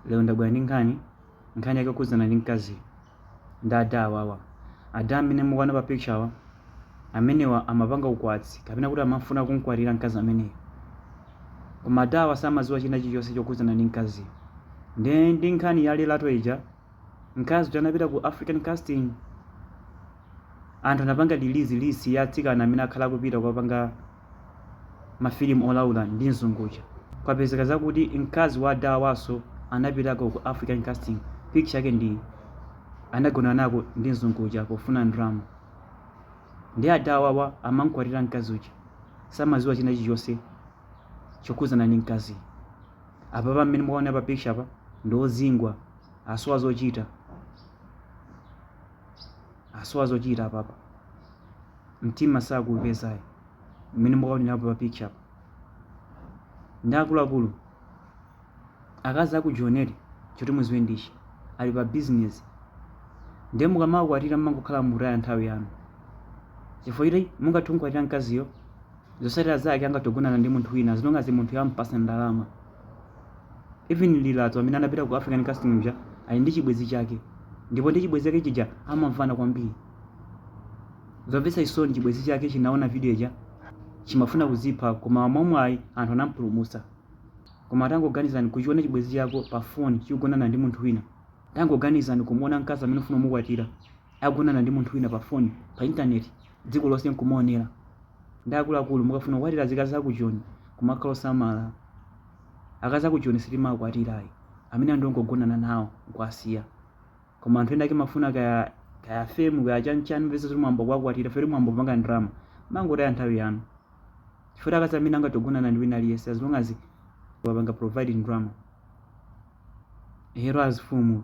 Lero ndabwera ndi nkhani, nkhani yake yokhudzana ndi mkaziyu ndi ada awawa. Ada amene mukuona pa picture awa, amenewa amapanga ukwati kapena kuti amafuna kumkwatira mkazi ameneyu. Koma ada awa samadziwa china chilichonse chokhudzana ndi mkaziyo. Ndiye ndi nkhani ya Lerato ija, mkazi uja anapita ku African Casting, anthu anapanga release list ya atsikana amene akhala akupita kukapanga mafilimu olaula ndi mzungu uja. Kwapezeka zakuti mkazi wa ada awanso anapitako ku African Casting, picture yake ndi iyi, anagonana nako ndi mzungu uja pofuna ndrama. Ndiye ada awawa amamkwatira mkazi uja, samaziwa china chilichonse chokhudzana ndi mkaziyu. Apapa mmene mukuwaonera pa picture apa ndi ozingwa, asowa zochita. asowa zochita apapa mtima sakuupeza ayi mmene mukuonera pa picture apa nde akuluakulu akazi aku joni ali choti muziwe ndichi ali pa business nde mukamawakwatira mmangokhala mutaya nthawi yanu chifukwa choti mungathe kumkwatira mkaziyo zotsatira zake angathe kugonana ndi munthu wina as long as munthuyo ampasa ndalama even lerato amene anapita ku african casting uja ali ndi chibwezi chake ndipo ndi chibwezi chake chija amamvana kwambiri zomvetsa chisoni chibwezi chake chinaona video ija chimafuna kuzipha koma mwamwayi anthu anampulumutsa koma tangoganizani kuchiona chibwezi chako pa foni chikugonana ndi munthu wina tangoganizani kumuona mkazi amene ufuna kumukwatira akugonana ndi munthu wina pa foni, pa intaneti, dziko lonse nkumaonera. Nde akuluakulu mukafuna kukwatira zikazi zaku Joni kumakhala osamala. Akazi aku Joni sitimawakwatira ayi, amene aja ndi ongogonana nawo nkuwasiya. Koma anthu ena ake mumafuna kaya kaya fame kaya chani chani mupeza zoti mwayamba kuwakwatira chifukwa choti mwayamba kupanga ndalama. Mmangotaya nthawi yanu. Chifukwa choti akazi amenewa angathe kugonana ndi wina aliyense as long as wapanga provide ndalama. Hero azifumu.